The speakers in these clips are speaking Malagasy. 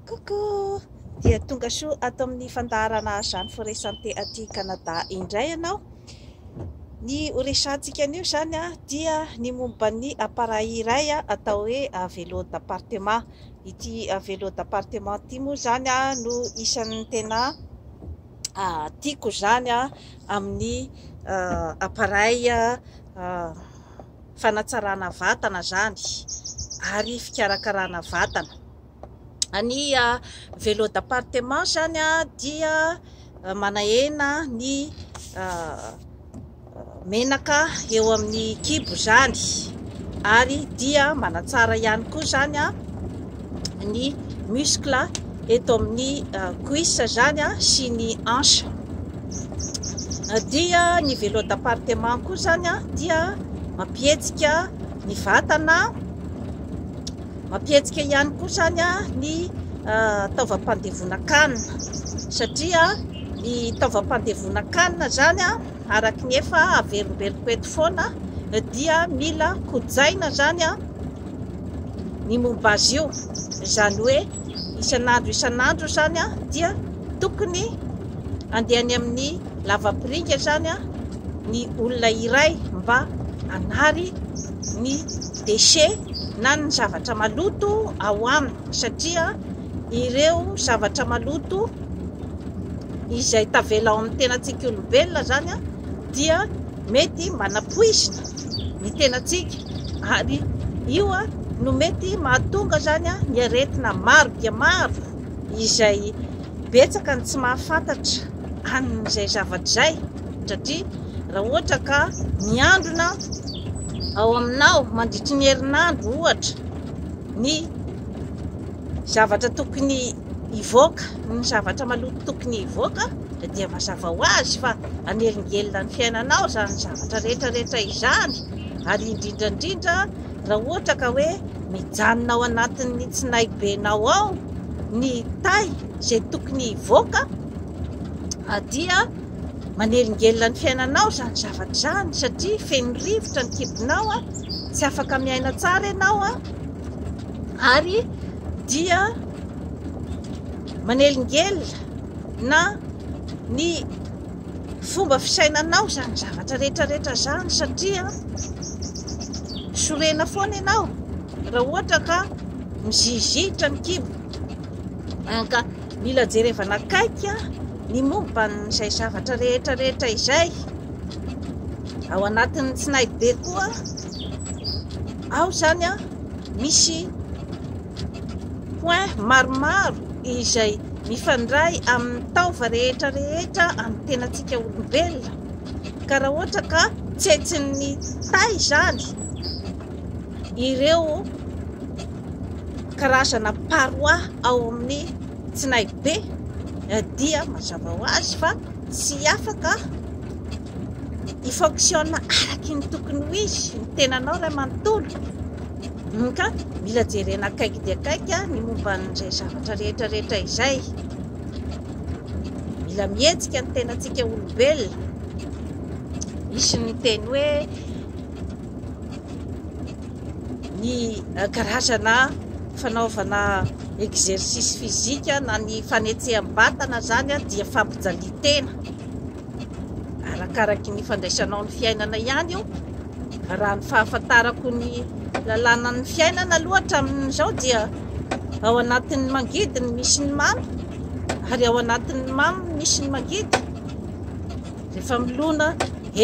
Coucou! Dia tonga soa ato amin'ny fandaharana Jeanne Forêt Santé aty Canada indray ianao. Ny ho resahantsika anio izany dia ny momba ny appareil iray atao hoe vélo d'appartement. Ity vélo d'appartement ity moa izany no isan'ny tena tiako izany amin'ny appareil fanatsarana vatana zany ary fikarakarana vatana. Ny velo d'appartement zany dia manahena ny menaka eo amin'ny kibo zany ary dia manatsara ihany koa zany ny muscle eto amin'ny cuisse zany sy ny hanche dia ny vélo d'appartement koa zany dia mampihetsika ny vatana mampihetsika ihany koa zany ny taovam-pandevonan-kanina satria ny taovam-pandevonan-kanina zany araka ny efa averimberiko eto foana dia mila kojaina zany ny momba azy io. Izany hoe isan'andro isan'andro izany dia tokony andeha any amin'ny lavapiringa izany ny olona iray mba hanary ny déchet na ny zavatra maloto ao aminy satria ireo zavatra maloto izay tavela ao amin'ny tenantsika olombelona izany dia mety manapoizina ny tenantsika ary io no mety mahatonga izany ny aretina maro dia maro izay betsaka ny tsy mahafantatra an'izay zavatra izay satria raha ohatra ka miandrona ao aminao mandritry ny herinandro ohatra ny zavatra tokony hivoaka ny zavatra maloto tokony hivoaka dia mazava ho azy fa anelingelina ny fiainanao izany zavatra rehetra rehetra izany ary indrindra indrindra raha ohatra ka hoe mijanona ao anatin'ny tsinaibenao ao ny tay izay tokony hivoaka dia manelingelina ny fiainanao izany zavatra izany satria feno rivotra ny kibonao a tsy afaka miaina tsara ianao a ary dia manelingelina na ny fomba fisainanao izany zavatra rehetrarehetra izany satria sorena foana ianao raha ohatra ka mizizitra ny kibo ka mila jerevana akaiky ny momba an'izay zavatra rehetrarehetra izay ao anatin'ny tsinay be koa ao izany a misy point maromaro izay mifandray amin'ny taova rehetra rehetra amin'ny tenantsika olombelona ka raha ohatra ka tsetsin'ny tay izany ireo karazana parois ao amin'ny tsinaibe eh, dia mazava ho azy fa tsy afaka hi-fonctionne araky ny tokony ho izy ny tenanao iray manontolo. Ka mila jerena akaiky dia akaiky ny momba an'izay zavatra rehetra rehetra izay. Mila mihetsika ny tenantsika olombelona. Misy ny teny hoe ny eh, karazana fanaovana exercice physique na ny fanetseham-batana zany dia fampijalian-tena. arakaraky ny fandraisanao ny fiainana ihany io raha ny fahafantarako ny lalànan'ny fiainana aloha hatramin'izao dia ao anatin'ny mangidy ny misy ny mamy ary ao anatin'ny mamy ny misy ny mangidy rehefa milona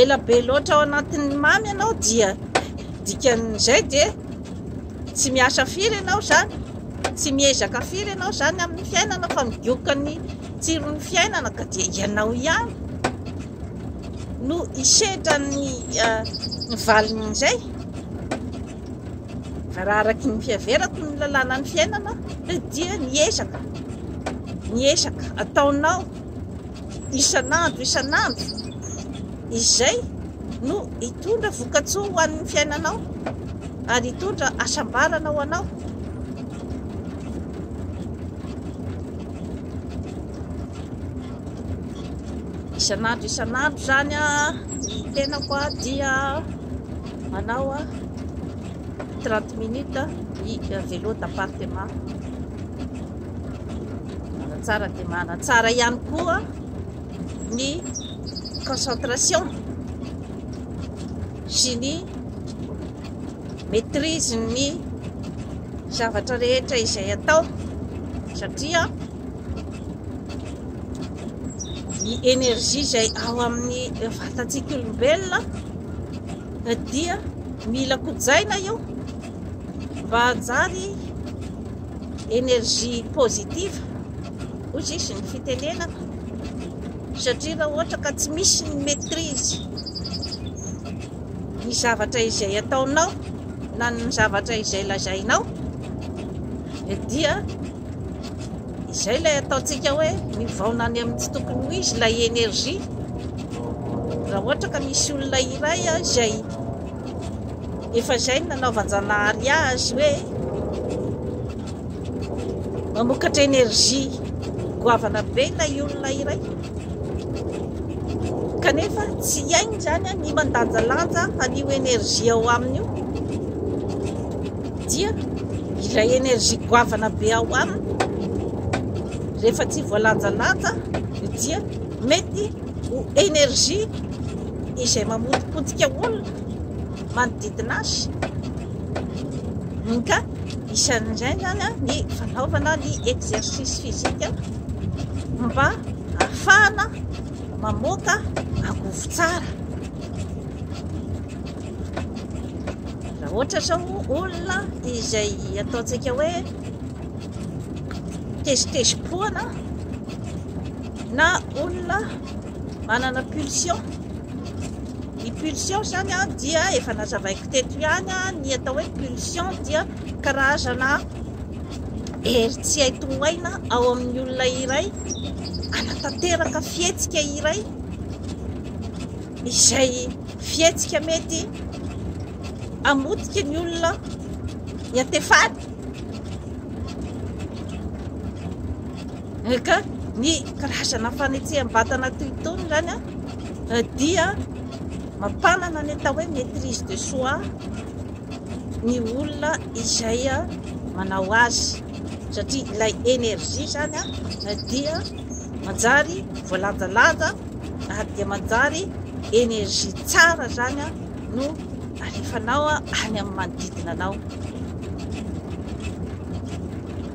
ela be loatra ao anatin'ny mamy ianao dia dikan'izay dia tsy miasa firy ianao izany Tsy miezaka firy ianao izany amin'ny fiainana fa midioka ny tsiron'ny fiainana ka dia ianao ihany no hisedra ny eh, valin'izay raha araky ny fiaverako ny lalànan'ny fiainana dia ny ezaka ny ezaka ataonao isan'andro isan'andro izay no hitondra vokatsoa ho an'ny fiainanao ary hitondra hasambarana ho anao isan'andro isan'andro zany a ny tenako a dia manao a 30 minutes i vélo d'appartement manatsara dia manatsara ihany koa ny concentration sy ny maîtrise ny zavatra rehetra izay atao satria ny énergie izay ao amin'ny vatantsika olombelona dia mila kojaina io mba hajary energie positive hoy sisa ny fitenenako satria raha ohatra ka tsy misy ny maîtrise ny zavatra izay ataonao na ny zavatra izay lazainao dia izay ilay ataontsika hoe mivaona any amin'ny tsy tokony ho izy ilay energie raha ohatra ka misy olona iray izay Efa izay no nanaovan-janahary azy hoe mamokatra énergie goavana be ilay olona iray. Kanefa tsy hiainy izany ny mandanjalanja an'io énergie ao aminy io. Dia ilay énergie goavana be ao aminy rehefa tsy voalanjalanja dia mety ho énergie izay mamotipotika olona manodidina azy ka isan'izay zany a ny fanaovana ny exercice physique mba afahana mamoaka angovo tsara raha ohatra zao olona izay ataontsika hoe tezitezi-poana na olona manana pulsion, ny pulsion zany a dia efa nazavaiko teto ihany a, ny atao hoe pulsion dia karazana hery tsy hay tongaina ao amin'ny olona iray anatanteraka fihetsika iray izay fihetsika mety amotika ny olona ny antefany Ka ny karazana fanetseham-batana toy itony izany dia mampanana ny atao hoe maîtrise de soi ny olona izay manao azy satria ilay énergie izany dia manjary voalanjalanja ary dia manjary énergie tsara izany no alefanao any amin'ny manodidina anao.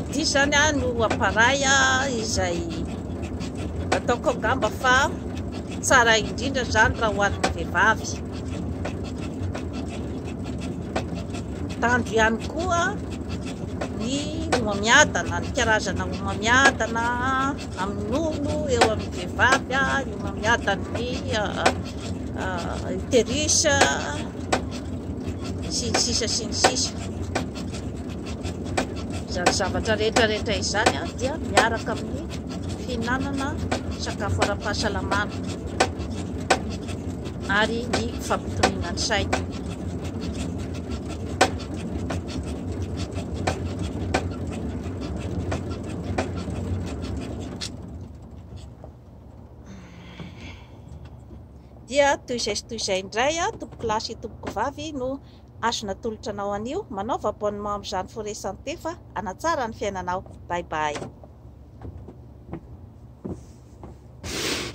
ity izany a no aparay a izay ataoko angamba fa tsara indrindra izany raha ho an'ny vehivavy tandro ihany koa ny homamiadana ny karazana homamiadana amin'ny nono eo amin'ny vehivavy a ny homamiadan'ny uterus sy ny sisa sy ny sisa Izany zavatra rehetra rehetra izany dia miaraka amin'ny fihinanana sakafo ara-pahasalamana ary ny fampitoniana ny saina. dia toy izay sy toy izay indray a tompokolahy sy tompoko vavy no Azo natolotra anao anio. Manaova abonnement amin'izany Forêt Santé fa hanatsara ny fiainanao. Bye bye.